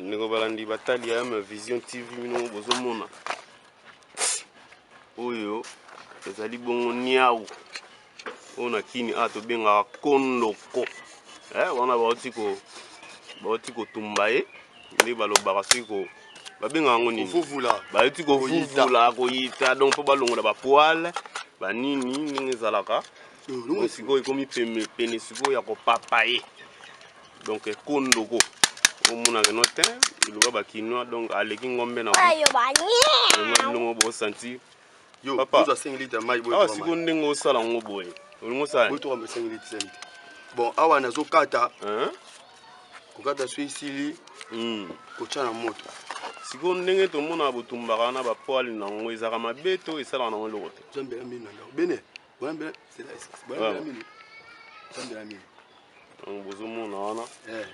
ndeko balandi batali ya ma vision tv bino bozomona oyo ezali bongo niau oyo na kini awa tobengaka kondoko eh, wana bauti ko bauti kotumba ye nde balobaka soki ko babengaka yango nini bayuti kovuvula koyita donc mpo balongola bapoile banini ndenge ezalaka donc sikoyo ekomi pene sikoyo ya kopapa ye donc ekondoko omonaka no te eloba bakinois donc aleki ngombe na bongo bosanti papa awa sikoyo ndenge osala yango boye olingi osala bon awa nazokata kokata so esili hmm. kotya na moto sikoyo ndenge tomonaka botumbaka wana bapoale na yango ezalaka mabe to esalaka nango eloko te bene bozomona wana eh.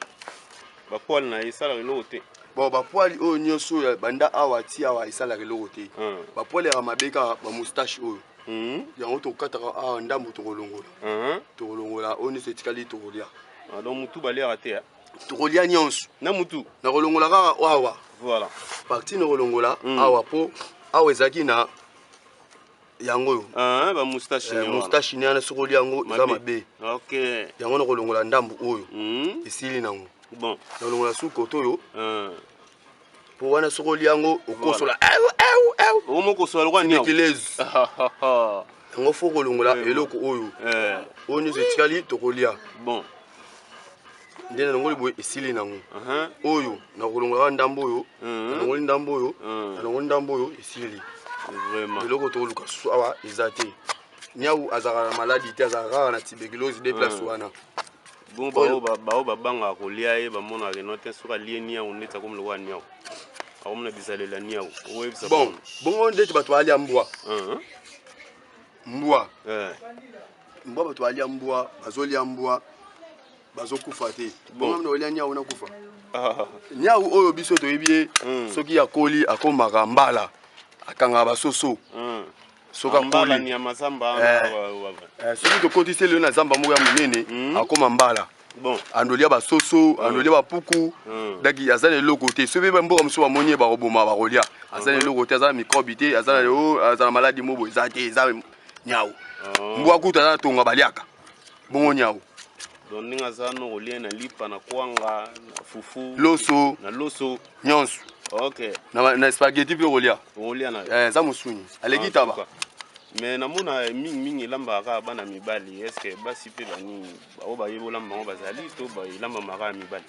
bapoile na ye esalaka eloko te bon bapoile oyo nyonso oyo banda awa ti awa esalaka eloko te hmm. bapoile yaka mabe kaka bamoustache oyo hmm. yango tokataka awa ndambo tokolongola hmm. tokolongola oyo nyonso etikali tokolya ah, donc motu balyaka te tokolya nyonso na motu nakolongola kaka awa voilà parti nakolongola awa mpo awa ezalaki na yango oyo ah, ba moustache eh, moustache ni ana sokoli yango eza mabe okay yango na kolongola ndambu oyo mm. esili nango bon na kolongola su koto oyo ah. po wana sokoli yango okosola eu eu eu omokosola lokwa nyo kilez yango fo kolongola eloko oyo eh. oyo nyonso etikali tokolia bon nde nalongoli boye esili nango oyo nakolongolaka ndambo oyo nalongoli ndambo oyo nalongoli ndambo oyo esili eloko tokoluka susu awa eza te niau azalaka na maladi te azalaka kaka na tuberculose de place wana bongo baoyo babangaka kolia ye bamonaka keno te soki alie niau ndeti akomi lokola niau akomona bizalela niau okoyebisa bon bongo ndeti bato balia mbwa mbwa eh. mbwa bato balia mbwa bazolia mbwa bazokufa te bongo mino olia nyau nakufa nyau oyo biso toyebi ye hmm. soki akoli akomaka mbala akangaka basoso hmm. soki akoli eh. eh, soki tokotisi elelo na zamba moko ya monene hmm. akoma mbala bon andolia basoso mm. andolia bapuku mm. daki aza na eloko te soki mpe mboka mosusu bamoni ye bakoboma bakolia aza na mm-hmm. eloko te aza na mikrobe te aza na maladi mobo eza te eza Nyau. Oh. Mbwa kutu aza na tonga baliaka. Bongo nyau. Donc ndenge aza no kolia na lipa na kwanga na fufu. Loso. Na loso. Nyonso. Okay. Na, na spaghetti mpe okolia. Okolia na. Eh, eza musuni. Aleki ah, taba. me namona mingimingi elambaka kaka bana mibali estce basi mpe banini baoyo bayebi olamba yango bazali to elambamaka ya mibali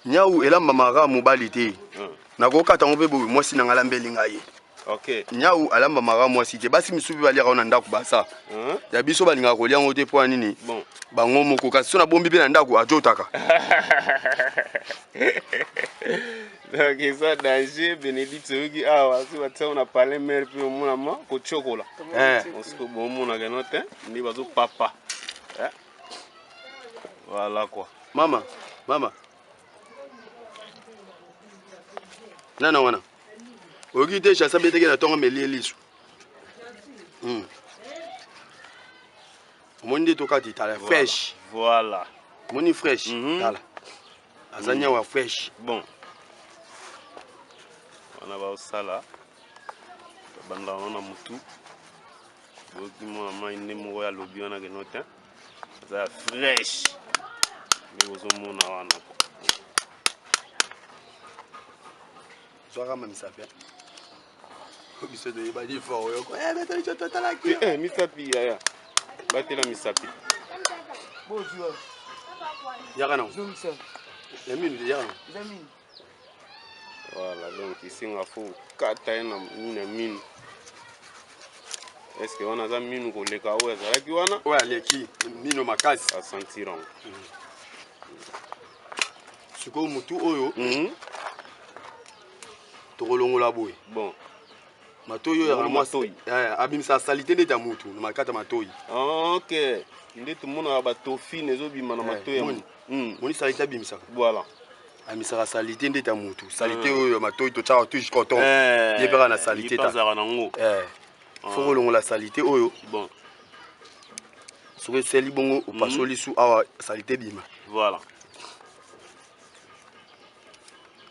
Nyau elambama kaka mobali te. Hmm. Nakokata yango mpe boye mwasi na ngai alambeli ngai. Okay. Nyau alambama kaka mwasi te. Basi misusu mpe baliaka yango na ndako baza. Hmm. Ya biso balingaka kolia yango te mpo ya nini? Bon. Bango moko kasi so nabombi mpe na ndako ajotaka. donc eza danger benedicte oyoki awa soki batia na palais mare mpe omonama kotyokola osiko bomonaka no te nde bazopapa Voilà quoi. Mama, mama. Nana wana. Oyoki te chasa beteke na tongo melie lisu. Hmm. Omoni nde tokati tala fresh. Voilà. Moni fresh mm -hmm. tala. Aza mm. nyawa fresh. Bon. Wana ba osala. Banda wana mutu. boyoki mwana mai nde moko ya lobi wana keno te aza ya fresh nde bozomona wana zwaka mamisa mpe biso toyebani fort oyoko betoliso totalaki misapi yaya batela misapi yaka nango ya minu yaka nango Voilà, donc ici nga faut kata ye na minu ya minu. Est-ce que wana aza minu koleka oyo azalaki wana? Oyo aleki mino makasi. A sentir yango. Mm. Sikoyo mutu oyo mm -hmm. tokolongola boye. Bon. Matoyi oyo ya mwasi oyo. Eh, abimisa salite ndeti ya mutu na makata matoyi. Ah, okay. Nde tomonaka ba tofine ezobima na eh, matoyi ya mutu. Mm. Moni salite abimisaka. Voilà. amisaka salite ndeti ya motu salite eh. oyo ya matoi totyaka tuge coton eh. ye mpeka na salite tazalaka nango eh. ah. foko olongola salite oyo bon soki eseli bongo mhm. opasoli su awa salite bima voilà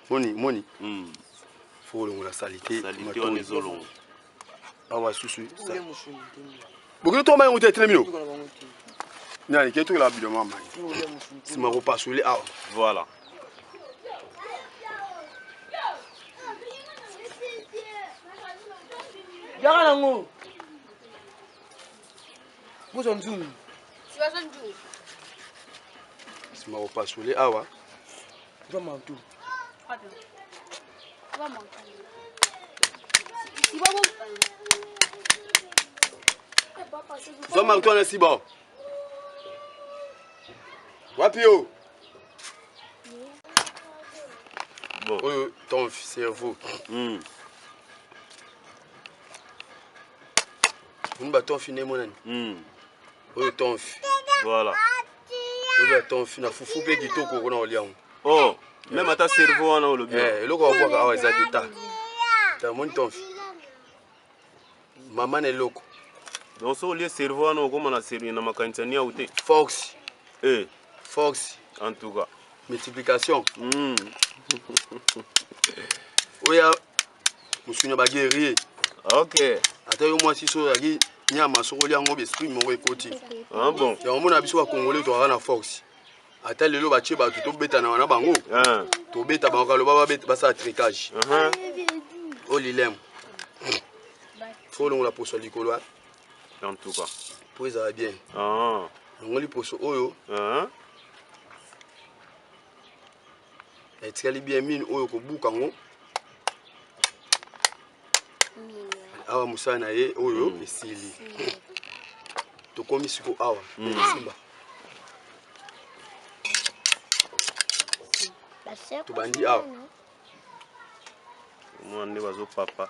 moni moni hmm. foko olongola salite matoi awa susu bokende toma yango te etelemi yo nani ke tokela bido mama nsima kopasoli awa voilà yaka nango bozwa nzungu nsima kopasoli awa zwa mantu Zwa marto wana siba wapi yo oyo ton cerveau hmm. moni batonfi nde emonani hmm. oyo tonfi voilà oyo batonfi na fufu mpe kitoko okona kolia yango oh meme ata cerveau wana olobi eh, eloko wabwaka awa eza deta tamoni tonfi mama na eloko donc so olie cerveau wana okoma na cerveau na makanisa niau te fox eh. fox en tout cas multiplication mm. oya mosuni ya baguerrier ah, ok ata yo mwasi so ozalaki nyama soko olya yango besprit moko ekoti ah, bon yango mona biso bakongole tozalaka na fox ata lelo batie bato tobetanaka na bango ah. tobeta bango kaloba basala tricage uh-huh. o oh, lilem fo olongola poso likolo ah. antuka mpo ezala bien ah. longoli poso oyo uh-huh. etikali bien mine oyo kobuka yango awa mosala na ye oyo mm. esili tokomi siko awa mm. simba tobandi awa mwana nde bazopapa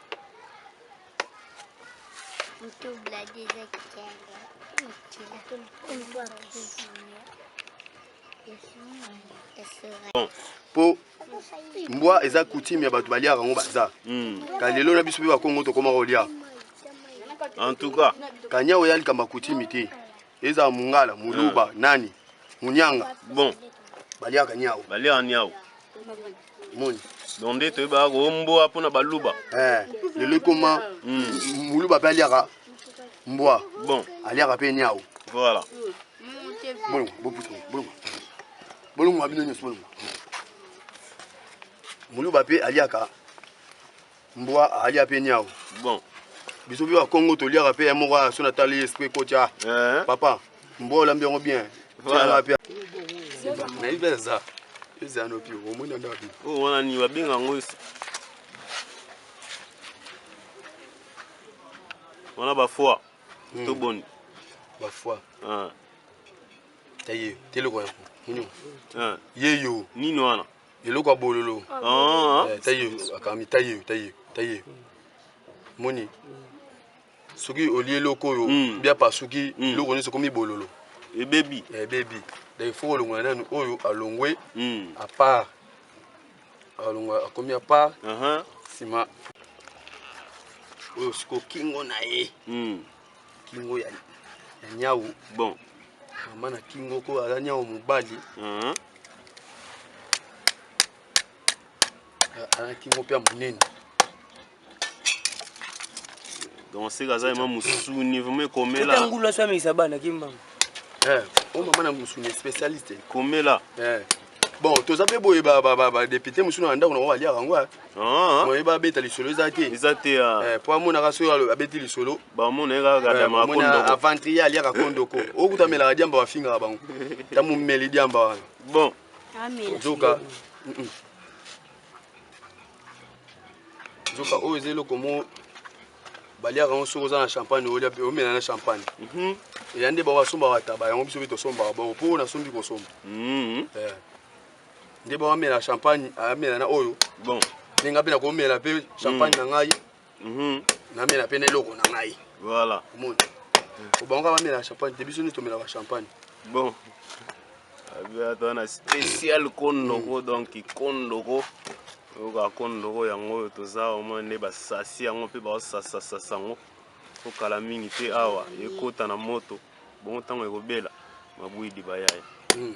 Bon, pour mbwa eza coutume ya bato baliaka yango baza hmm. ka lelo na biso mpe bakongo tokoma kolia en tout cas kanya oya likambo ya coutume te ezala mungala muluba hmm. nani munyanga bon baliaka niao baliaka niao moni donc nde toyebaka koomboa mpo na baluba eh, lelo ekoma moluba mpe aliaka mbwa bon aliaka mpe niau voilà bolongo bopusa bolongo bolongo ya bino nyonso bolongo muluba mpe aliaka mbwa alia mpe niao bon biso mpe bakongo toliaka mpe moko ya so natali esprit kotia eh. papa mbwa olambi yango bien nayebi eza eza yano mpe omoni yango wapi oyo oh, wana nini babenga yango wana bafoi hmm. to boni bafoi ah. Taye, teleko ya nini? Ah. Ye yo. Nini wana? Eloko ya bololo. Ah. Eh, taye, akami taye, taye, taye. Moni. Soki olie eloko oyo hmm. bia pasuki, hmm. eloko nyonso komi bololo. Ebebi. Eh, Ebebi. Eh, Donc il faut olongola nanu oyo alongwe hmm. à part. Alongwa akomi à part. Uh-huh. Sima. Oyo siko kingo na ye. kingo ya ya nyau bon mama na kingo ko aza nyau mobali uh-huh. aza kingo mpe ya monene donc sika aza yema mosuni vraimen ekomela ngulu aso amekisa bana kimbanga eh, o mama na mosuni spécialiste ekomela eh. bon toza mpe boye badepute mosusu na ndako nango baliaka yango eh. ah. moye babeta lisolo eza te eza te ah. eh, mpo amonaka soki abeti lisolo eh, aventrie aliaka kondoko okuta melaka diamba bafingaka bango ta momeli diamba wana bon zoka nzoka oyo eza eloko mo baliaka yango soki oza na champagne olia mpe omela na champagne mhm. eya nde bango basombaka taba yango biso mpe tosombaka bongo mpo oyo nasombi kosomba mhm. eh. nde bango amela champagne amela na oyo ndenge mpe nakomela mpe champagne mhm. na ngai Mhm. namela mpe na eloko na ngai voilà omoni obango kaka bamela champagne te biso nde tomelaka champagne bon aza wana spécial kondoko mm. donc kondoko oyoka kondoko yango oyo toza omoi nde basasi yango mpe baosasasasa yango okala mingi te awa ekota na moto bongo ntango ekobela mabwidi bayaya mm.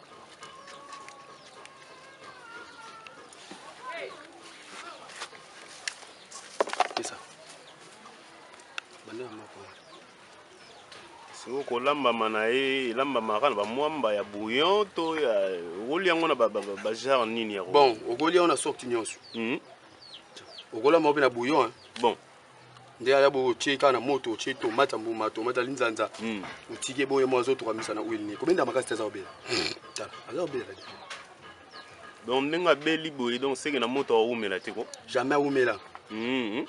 soki kolambama na ye elambamaka na bamwamba ya bouillon to ya okoli yango na bagenre nini ya bon okoli yango na sorti nyonso hmm. okolambama mpe na bouillon bon nde aya bo otie kaka na moto otie tomate ya mbuma tomate ya linzanza hmm. otiki ebongo ye moko azotokamisa na huile nini kobenda makasi te aza kobela tala aza kobela donc ndenge abeli boye donc seke na moto awumela te ko jamais awumela hmm.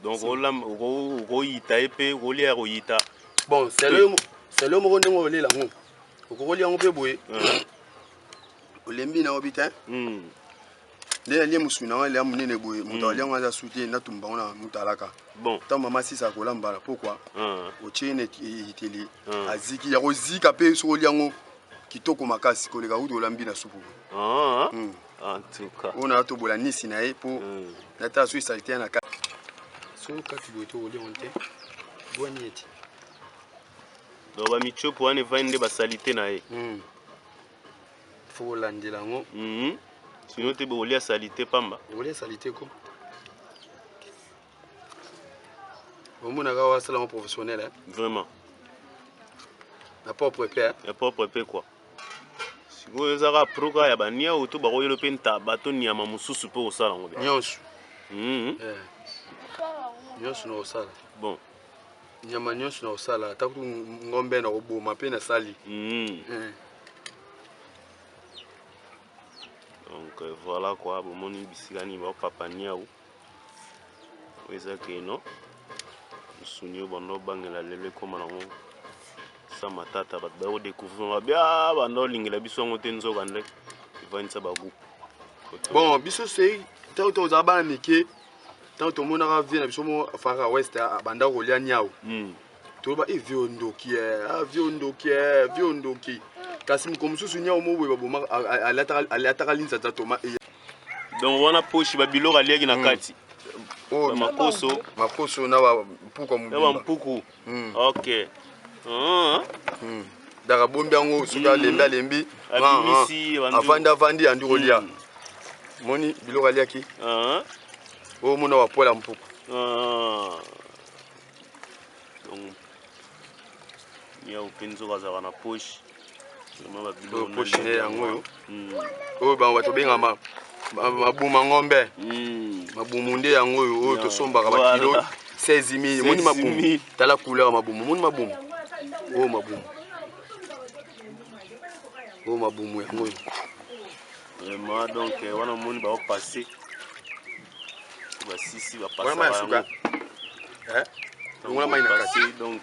donc okoyita ye mpe okolia ya koyita bon selo moko ndenge olela yango okokolia yango mpe boye hmm. olembi na obi te nde nalie mosuni na ngai lea monene boye moto alia ngai aza sute natumba yango na motalaka ntango mama sisa akolambala mpokwa otye ye na ekiteli aziki ya kozika mpe soki olia yango kitoko makasi koleka kutu olambi na supu oyo na atobola nisi na ye mpo natala soki salite ya na kati soki okati boye to olia yango te bwani ete donc bamiciopo wana evani nde basalite na ye faut kolandela yango mhm. sino te bokolia salite pamba bokolia salite ko omonaka oyo asala yango professionnel eh? vraiment na propre epe eh? na propre epe kua sikoyo ezaka proka ya baniau to bakoyelo mpe ntaba to nyama mosusu mpe kosala yango nyonso mhm. eh. nyonso na kosala bon nyama nyonso nakosala ata kutu ngombe nakoboma mpe nasali mm. eh. donc euh, voilà quoi bomoni bisika nini bapapa niau oyo eza keno mosuni oyo banda obangela lelo ekóma nango sa matata bato baye kodécouvrir nga bia ah, banda olingela biso yango te nzoka nde evandisa bagroupe bon biso sei ntango tozala bana mike ntango tomonaka vie na biso mo fara west abanda kolia niau hmm. toloba e eh, vie ondoki e eh, ah, vie ondoki e eh, vie ondoki kasi mokolo mosusu niau mo boye babomaka alataka linzanza toma e donc wana poshi babiloko aliaki na hmm. kati oh, makoso makoso na bampuku hmm. ok hmm. Hmm. donc abombi yango soki alembi alembi avandi avandi andi kolia moni biloko aliaki ah. oyo mona wapola mpuku ah. donc nyau mpe nzoka azalaka na poche oyo poche ne yango oyo hmm. oyo bango bato bengama mabuma ngombe hmm. mabumu nde yango oyo oyo tosombaka bakilo 16 mil moni mabumu tala couleur mabumu moni mabumu oyo oh, mabumu oyo oh, mabumu yango oyo vraiment donc eh, wana omoni baopasse basisi bapasa yango eh? longola mai na kati donc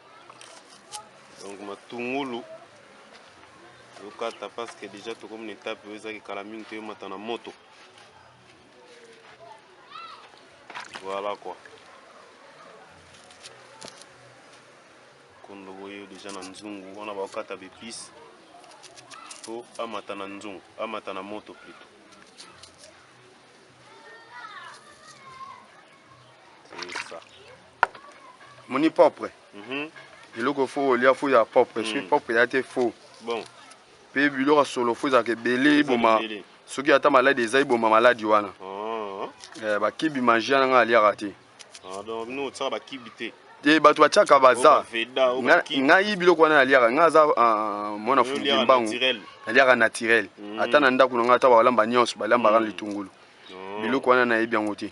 donc matungulu tokata parce que déjà tokomi na etape oyo ezaki kala mingi toyemata na moto voilà quoi kondo boye déjà na nzungu wana bakokata bepice po amata na nzungu amata na moto plutôt moni propre mhm. eloko fo olia fo ya propre mm. soki propre ya te fo mpe biloko ya solo fo ezalaka ebele eboma soki ata maladi eza eboma maladi wana ah. eh, bakibi mangia na ngai aliaka te ah, te bato batiaka baza ngai biloko wana naliaka ngai aza ah, mwana fuluki mbangu naliaka naturel mm. ata na ndako na ngai ata balamba nyonso balambaka na mm. litungulu biloko wana nayebi yango te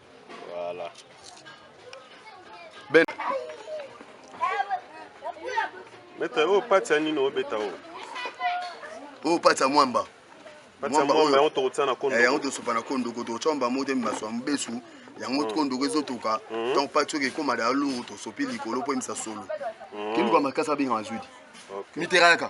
Voilà. Ben. Beta oyo pati ya nini obeta oyo? Oyo pati ya mwamba. Mwamba oyo yango tokotya na kondo. Eh, yango tosopa na kondo ko tokotya mwamba moko te mimaso ya mobesu. Yango mm. kondo ko ezotoka. Mm. Donc pati oyo ekoma da luru tosopi likolo mpo emisa solo. Mm. Kiluka makasi abengaka zuidi. Okay. Miteraka.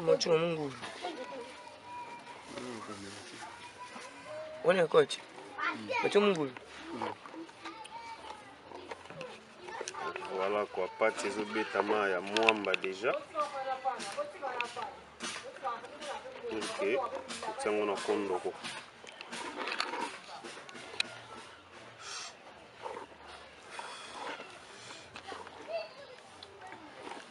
Mocho mungu. Ona coach. Mocho mungu. Voilà quoi, pati ezobetama ya mwamba déjà. Ok, otiango na kondoko.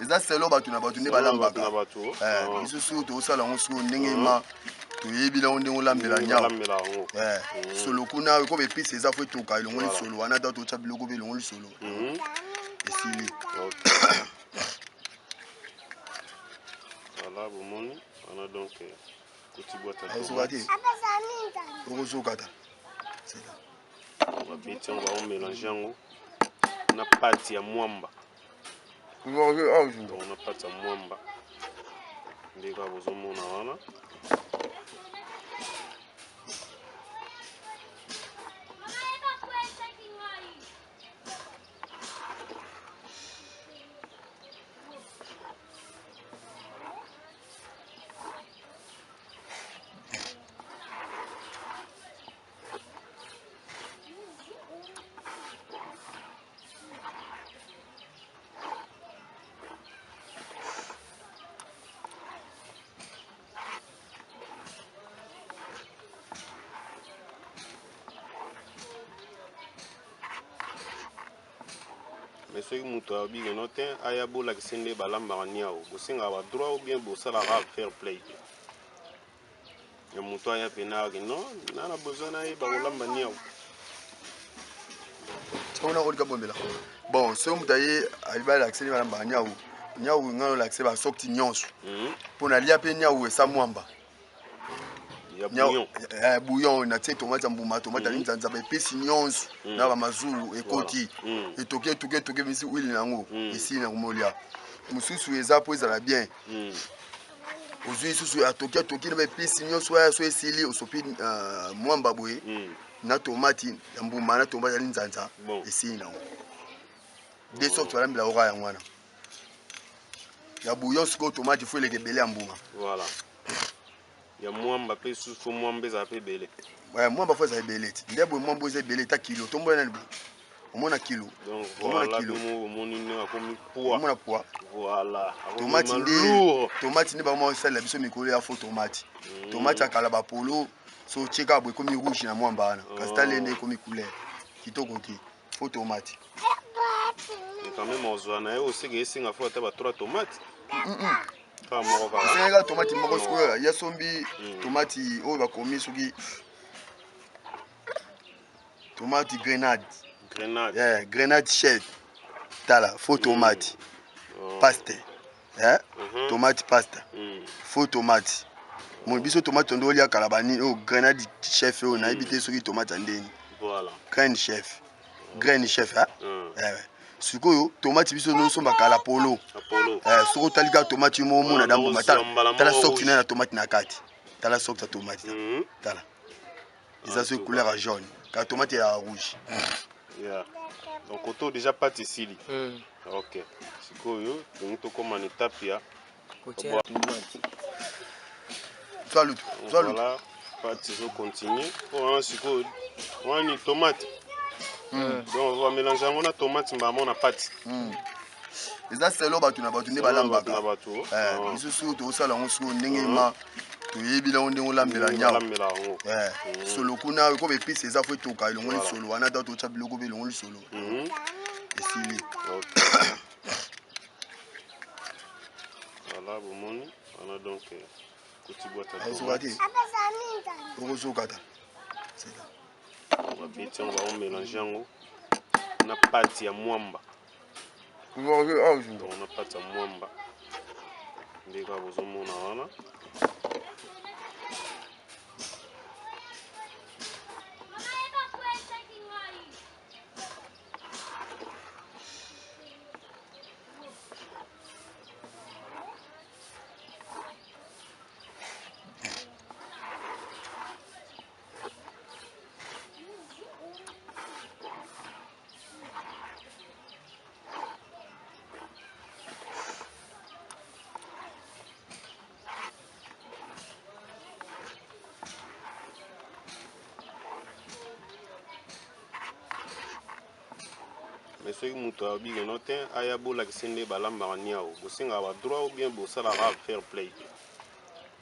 eza selo bato na bato nde balambaka eh, oh. biso soko tokosala yango soko ndenge mm-hmm. ma toyebi nango ndenge olambela mm, nyao eh, mm. solo kuna eko bepisi eza fo etoka elongo lisolo wana ata totya biloko mpe elongo lisolo mm-hmm. esili voilà bomoni wana donc eh, kotibwataokokata ah, babeti yango baomelange yango na pati ya mwamba donc na pati ya mwamba nde kaka bozomona wana mais soki moto ayobi keno te aya bolakisi nde balambaka niao bosengaka badroit ou bien bosalaka fair play te ya moto aya pena ake no na na besoin na ye bakolamba niau ona kolika bombela bon soki moto aye alibi alakiseli balambaka niau niau ngai olakise basokti nyonso mpo mhm. nalia mpe niau esa mwamba eh, bouillon natie tomate ya mbuma tomate ali mhm. nzanzaba epesi nyonso mhm. na bamazulu ekoti etoki etoki etoki emisi wili na yango esili na komolia mosusu eza mpo ezala bien ozwi lisusu ya toki atoki na baepisi nyonso oyo so esili osopi uh, mwamba boye mm. na tomati ya mbuma na tomati ya linzanza bon. esili nango de sorte oh. balambela oka yango wana ya bouillon sikoyo tomati fo eleka ebele ya mbuma voilà. ya mwamba mpe susu fo mwamba ezala mpe ebele mwamba fo ezala ebele ti nde boye mwamba eza ebele ta kilo tombola nani boye omona kilo omona kilo omona poa tomati nde tomati nde bango basalela biso mikolo ya fo tomati mm. tomati akala bapolo so otie kaka boye ekomi rouge na mwamba wana oh. kasi tale nde ekomi couleur kitoko te fo tomati quand même ozwa na ye osika esinga fo ata ba 3 tomate esengelaka tomati moko sikoyo ya sombi mm. tomati oyo bakomi soki tomate grenade grenade yeah, grenade chef tala faux tomate mm. oh. paste yeah? mm -hmm. tomate pasta mm. faux tomate moi biso tomate tondo olia kala banini oyo oh, grenade chef oyo oh, nayebi te soki tomate ya ndeni voilà. graine chef graine chef hein? mm. eh, ouais. sikoyo tomati biso nosombaka la polo eh, soki otali kaka tomati yo moko mona damboma tala sokti naye na tomati na kati tala sokti ya tomati tala eza soki couleur ya jaune kaka tomate ya rouge yeah. donc koto deja pati esili mm. ok sikoyo tongi tokóma na etape ya voilà pati ezocontinue mpo wana sikoyo wani tomate mm. donc omélange yango na tomate mbamo na pati mm. eza selo bato na bato nde balambaka misusu tokosala yango sikoyo ndenge ma toyebi nango ndenge olambela nyama solo kuna eko bepisi eza fo etoka elongo lisolo wana ata totya biloko mpe elongo lisolo esili voilà bomoni wana donc kotibwataokati okozokata babeti yango baomelange yango na pati ya mwamba donc na kati ya mwamba nde kaka bozomona wana mais soki moto ayobi keno te aya bolakisi nde balambaka niao bosengaka badroit ou bien bosalaka fair play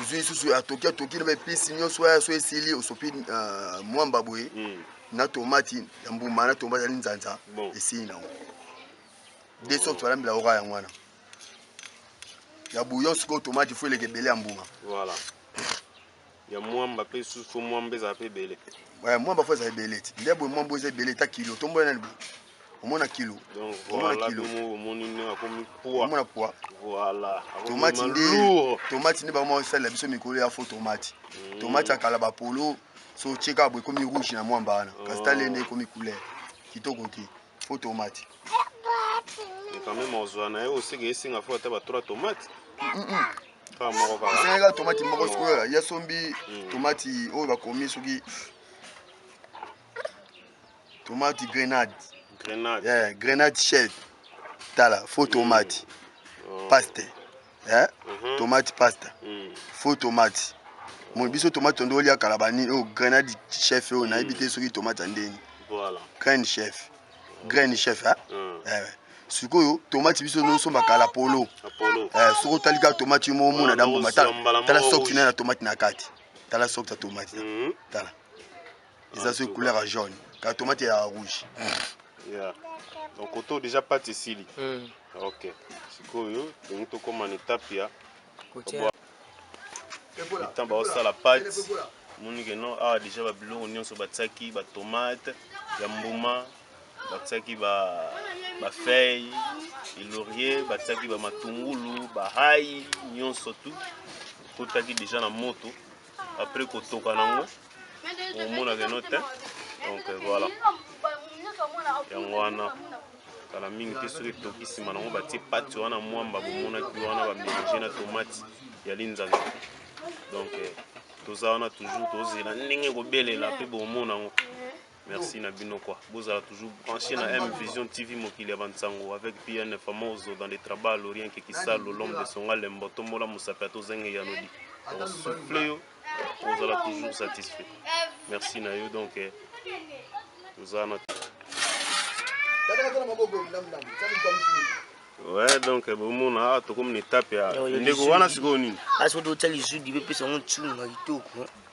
ozwi lisusu ya toki ya toki na baepisi nyonso oyo so esili osopi uh, mwamba boye mm. na tomati ya mbuma na tomati ya linzanza bon. esili nango de sorte balambela yoka yango wana ya bouillon sikoyo tomati fo eleka ebele ya mbuma voilà. ya mwamba mpe susu mwamba ezala mpe ebele mwamba fo ezala ebele ti nde boye mwamba eza ebele ta kilo tombola nani boye omona kilo omona kilo omona poa tomati nde tomati nde bango basalela biso mikolo ya fo tomati mm. tomati akala bapolo so otie kaka boye ekomi rouge na mwamba wana oh. kasi tale nde ekomi couleur kitoko te fo tomati quand même ozwa na ye osika esinga fo ata ba 3 tomate esengaka tomati moko sikoyo yasombi tomati oyo bakomi soki tomate grenade grenade yeah, grenade chef tala faux tomate mm. oh. paste yeah? mm -hmm. tomate pasta mm. faux tomate moi biso tomate tondo olia kala banini oyo oh, grenade chef oyo oh, nayebi te soki tomate ya ndeni voilà. graine chef graine chef hein? mm. eh, eh. sikoyo tomati biso nosombaka la polo eh, soki otali kaka tomati yo moko mona damboma tala soki naye na tomati na kati tala soki ta tomati tala eza soki couleur ya jaune kaka tomate ya rouge yeah. donc koto deja pati esili mm. ok sikoyo tolingi tokóma na etape ya etan baosala pati moni ke non awa deja babiloko nyonso batiaki batomate ya mbuma batiaki bafeille elorie batiaki bamatungulu bahai nyonso tu ekotaki deja na moto après kotoka nango omonaka eno te donc voilà yango wana kala mingi te soki etoki nsima nango batie pati wana mwamba bomonaki wana bamelange na tomati ya linzanza donc eh, toza wana toujours tozela ndenge kobelela mpe bomona yango Merci na bino quoi. Bozala toujours branché na M Vision TV mokili ya bansango avec PN Famoso dans les trabas l'Orient qui kisalo l'homme de Songa Lembo tombola musape to zenge ya nodi. Donc souffle yo bozala toujours satisfait. Merci na yo donc eh, toza na Ouais, donc eh, bomona awa tokomi na etape ya ndeko wana sikoyo nini? Asoki otya lizudi mpe pesa yango ntunga kitoko.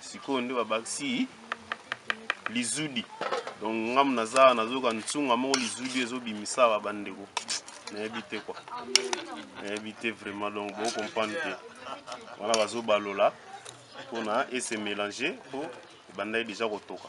sikoyo nde babakisi lizudi donc ngamu naza nazoka nsunga moko lizudi ezobimisa ba bandeko nayebi te kwa nayebi te vraiment donc bocomprendre te wana bazobalola mpona ese mélange mpo ebandaki deja kotoka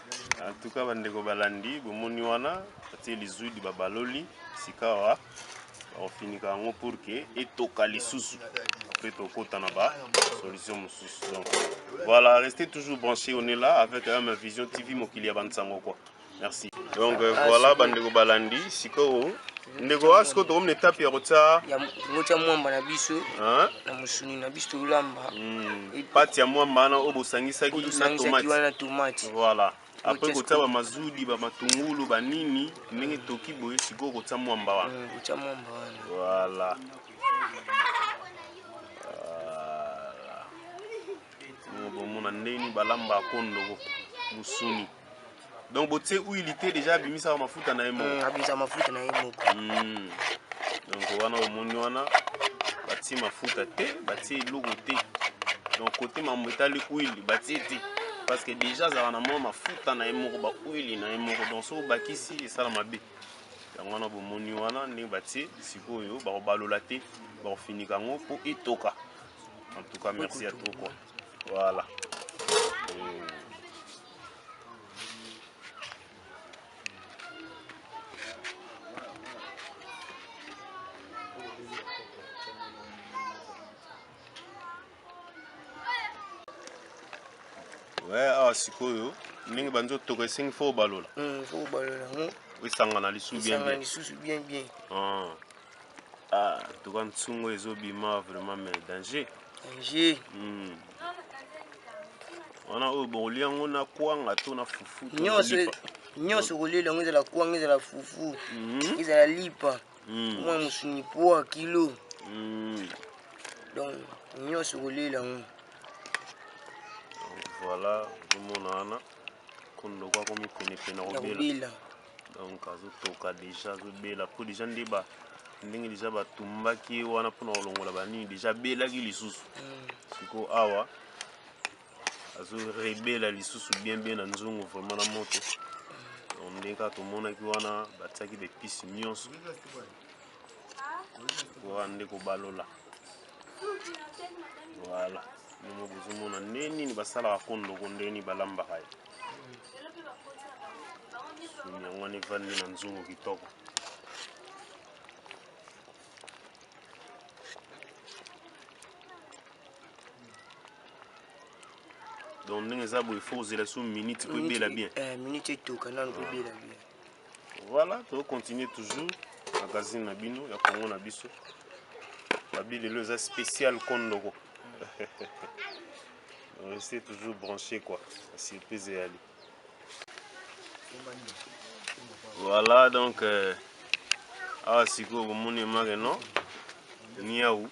En tout cas bandeko balandi bomoni wana batie lizuidi babaloli sikawa bakofinika yango pour que etoka lisusu après tokota na ba solution mosusu donc voilà restez toujours branché on est là avec ma vision tv mokili ya bansango quoi merci donc euh, voilà bandeko balandi sikoyo ndeko a sikoyo tokomi na etape ya kotya kotya mwamba na biso na mosuni na biso tolamba hmm. pati ya mwamba wana oyo bosangisaki na tomate voilà apres kotya bamazudi bamatungulu banini ndenge toki boye sikoyo kotya mwamba wana hmm, voilà bomona ndenge nini balamba kondo mosuni donc botie huile te deja abimisaka mafuta na ye moko mm, abimisaka mafuta na ye moko mm. donc wana omoni wana batie mafuta te batie eloko te donc kote mambo etali huile batie te parce que deja azalaka na mwa mafuta na ye moko bahuile na ye moko donc soki obakisi esala mabe yango wana bomoni wana ndenge batie sikoyo bakobalola te bakofinika yango mpo etoka en tout cas merci ya trop quoi voilà mm. awa sikoyo ndenge banzi otoka esengi fo obalola hmm, fo obalola yango esangana lisusu bien bien Ah, tuka nsungo ezo bima vraiment mais danger. Danger. Hmm. Wana oyo bokolia yango na kwanga to na fufu to nyonso e- nyonso kolia yango ezala kwanga ezala fufu mhm. ezala lipa hmm. mwa mosuni poa kilo hmm. donc nyonso kolia yango voilà omona wana kondo kwa komi penepene kobela donc azotoka deja azobela mpo deja nde ba ndenge deja batumbaki ye wana mpona kolongola banini deja abelaki lisusu mm. sikoyo awa azorebela lisusu bien bien na nzungu vraiment na moto donc ndenge kaka tomonaki wana batiaki bepisi nyonso koa nde kobalola voilà nongo bozomona nde nini basalaka kondoko nde nini balambaka ye Sumi yango wana evandi na nzungu kitoko. donc ndenge eza boye fo kozela so minute po ebela bien eh, minute etoka nanu po ebela bien voilà tokocontinue toujours magazine na bino ya kongo na biso babi lelo eza spécial kondoko Restez toujours branché quoi. Surprise et Ali. Voilà donc euh, awa sikoyo komoni emake no niau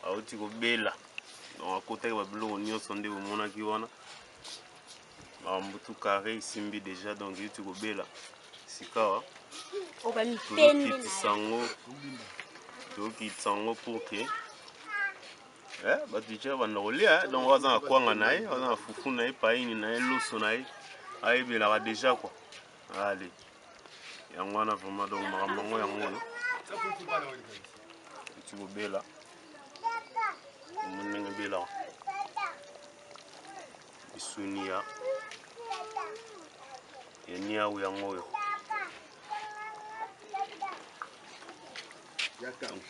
auti kobela donc akotaki babiloko nyonso nde bomonaki wana bambutu carré esimbi déjà donc euti kobela sikawa tozokitisa yango tozokitisa yango pour que Eh, bato ica banda kolia eh. donc waza na kwanga na ye waza na fufu na ye paini na ye loso na ye ayebelaka deja kua ale yango wana vraiment donc makambo yango yango oyo eti kobela omoni ndenge ebelaka misuni ya ya niau yango oyo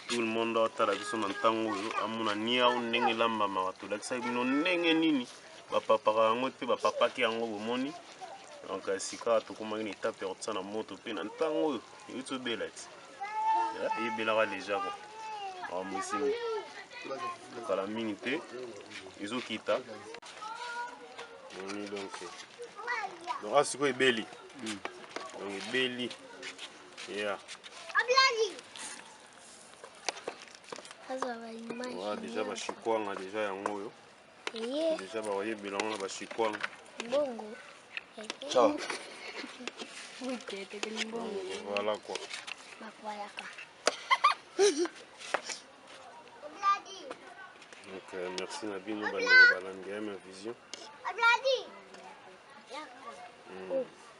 Tout le monde aotala biso na ntango oyo amona niau ndenge elambamaka. Tolakisaki bino ndenge nini bapapaka yango mpe bapapaki yango bomoni. Donc euh, sikawa tokomaki na etape ya kotisa na moto mpe na ntango oyo euti obela ti eh, ebelaka deja ko makambo esimbi kala mingi te ezokita donc asikoyo ebeli donc ebeli Yeah. Voilà, déjà ba chikwanga déjà yango oyo. Yeah. Déjà ba oye bilango na ba chikwanga. Bongo. Ciao. Oui, t'es t'es bongo. Voilà quoi. Ba voilà quoi. Donc euh, merci na bino bandeko balandi ya ma vision. Abladi. Mm.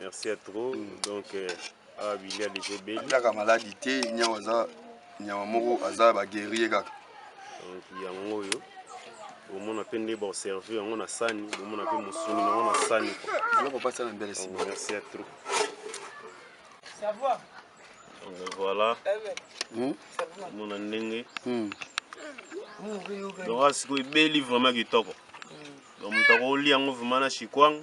Merci à trop. Mm. Donc, euh, ah, Billy a déjà belli. Kaka maladie te, nyawa za, nyawa moko aza ba guerrier kaka. Donc, yango yo. omona mpe nde baoserve yango na sani omona mpe mosuni nango na sani biloko mpasa na mbele sima merci ya trop donc voilà hmm? omona ndenge hmm. donc asikoyo ebeli vraiment kitoko hmm. donc moto akolia yango vraiment na chikwang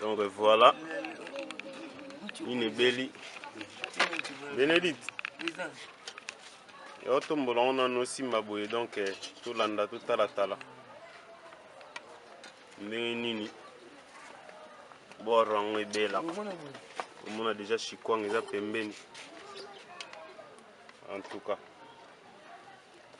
donc voilà nini ebeli benedite yo tombola ngo nano osimba boye donc eh, tolanda totalatala ndenge nini boro yango ebela omona deja chikwang eza pembeni en tout cas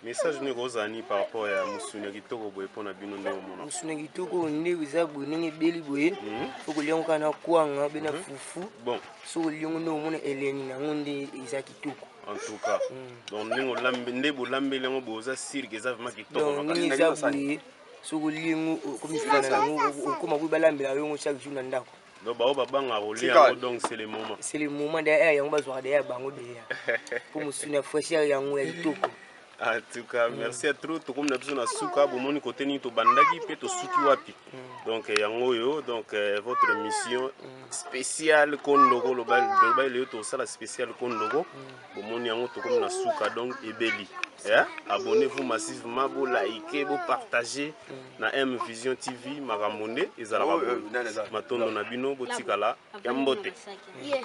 Message nini ekozala nini par rapport ya musuni ya kitoko boye mpo na bino nde omona? Musuni ya kitoko oyo nde eza boye ndenge ebeli boye mhm. soki olia yango kaka na kwanga mpe na mhm. fufu bon soki olia yango nde omona eleni na yango nde eza kitoko en tout cas mm. donc ndenge olambi nde bolambeli yango boye oza sirke eza vraimen kitoko ndenge eza boye soki olia yango okomi fana na yango okoma boye balambela yo yango chaque jour na ndako Donc bao babanga kolia yango donc c'est le moment. C'est le moment d'ailleurs yango bazwaka d'ailleurs bango deya. Pour musuni ya fraîcheur yango ya kitoko. En tout cas, mm. merci à trop. Tokomi na biso na suka, bomoni kote nini tobandaki pe tosuki wapi. Mm. Donc eh, yango yo, donc eh, votre mission mm. spéciale Kondoko, loba loba leo tosala spéciale Kondoko. bomoni yango tokomi na suka donc ebeli eh? abonnez-vous massivement bo like bo partager na M Vision TV makambo nde ezalaka oh, boye euh, matondo na bino botikala ya mbote yeah.